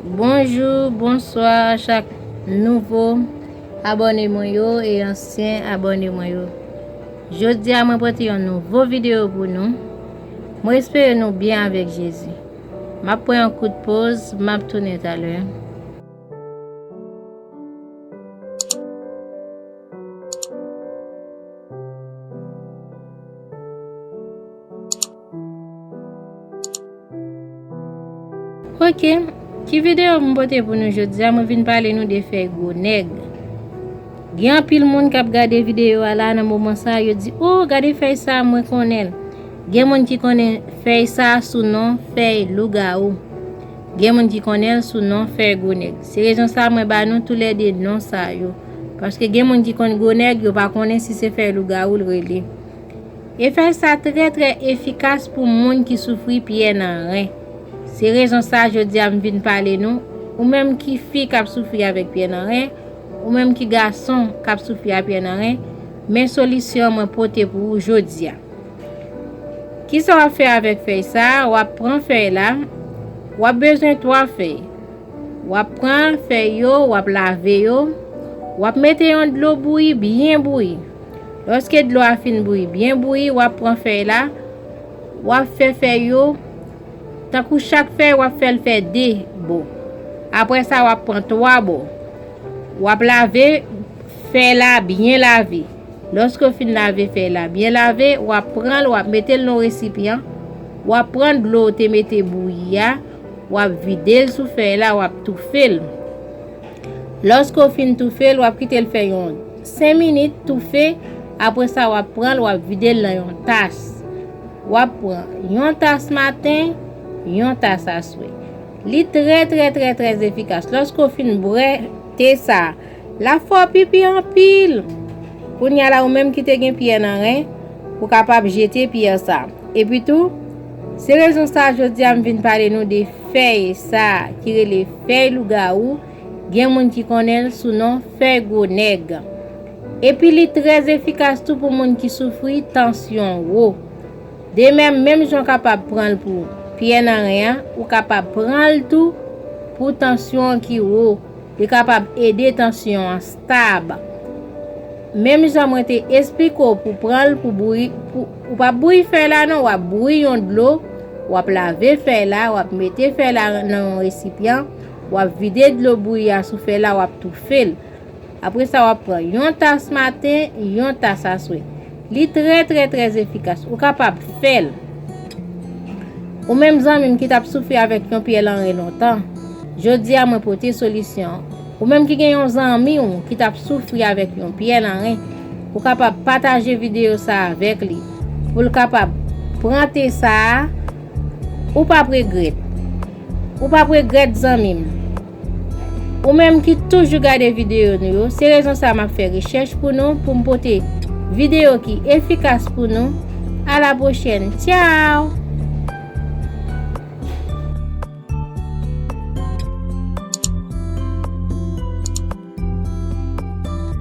Bonjou bonswa chak nouvo abòne mwen yo e ansyen abòne mwen yo Jodi a mwen pote yon nouvo videyo pou nou Mwen espere nou byen avèk Jezi M ap pran yon kout poz m ap tounen talè Ok, ki videyo mwen pote pou nou jodi a, mwen vin pale nou de fèy gwo nèg. Gen anpil moun kap gade videyo a la nan moman sa, yo di, oh, gade fèy sa, mwen konnen. Gen moun ki konnen fèy sa sou non fèy lougarou. Gen moun ki konnen sou non fèy gwo nèg. Se rezon sa mwen ba nou tou lè de non sa yo. Paske gen moun ki konnen gwo nèg, yo pa konnen si se fèy lougarou l rele. Efèj sa trè trè efikas pou moun ki soufri pyè nan ren. Se rezon sa jodi a m vin pale nou, ou menm ki fi k ap soufri avèk pyè nan ren, ou menm ki gason k ap soufri a pyè nan ren, men solisyon mwen pote pou ou jodi a. Kisa w ap fè avèk fèy sa, w ap pran fèy la, w ap bezwen 3 fèy. Wap pran fèy yo, wap lave yo, wap mete yon dlo bouyi byen bouyi. Lòske dlo a fin bouyi byen bouyi, wap pran fèy la, wap fè fèy yo, tankou chak fèy wap fèl fè 2 bo. Apre sa wap pran 3 bo. Wap lave fèy la byen lave. Lòske w fin lave fèy la byen lave, wap pranl wap metel nan yon resipyan, wap pran dlo ou te mete bouyi a, Wap vide l sou fèy la wap toufe l. Lòske w fin toufe l wap kite l fè yon 5 minit toufe apre sa wap pran l wap vide l nan yon tas. Wap pran yon tas maten, yon tas aswè. Li trè trè trè trè efikas. Lòske w fin bwè te sa, La fò pipi anpil! Kounya la ou menm ki te gen pyè nan ren, ou kapab jete pyè sa. Epi tou, se rezon sa jodi a m vin pale nou de fèy sa ki rele fèy lougawou, gen moun ki konnen l sou non fèy gwo nèg. Epi li trè efikas tou pou moun ki soufri tansyon wo. Demèm, menm jan w kapab pran l pou pyè nan ren an, ou kapab pran l tou pou tansyon ki wo. Li kapab ede tansyon an stab. Menm jan mwen te esplike w pou pran l pou bouyi, ou p ap bouyi fèy la non, w ap bouyi yon dlo, w ap lave fèy la, w ap mete fèy la nan yon resipyan, w ap vide dlo bouyi a sou fèy la, w ap toufe l. Apre sa w ap pran yon tas maten, yon tas aswè. Li trè trè trè efikas. Ou kapab fèl. Ou menm zanmim ki tap soufri avèk yon pyè lanren lontan. Jodia mwen pote solisyon. Ou menm ki gen yon zanmi ou ki tap soufri avèk yon pyè lanren. Ou kapab pataje video sa avèk li. Poul kapab pran te sa. Ou pap regrèt. Ou pap regrèt zanmim. Ou menm ki toujou gade videyo nou yo, se rezon sa map fè rechèch pou nou pou m pote videyo ki efikas pou nou. A la pwochèn, tchao!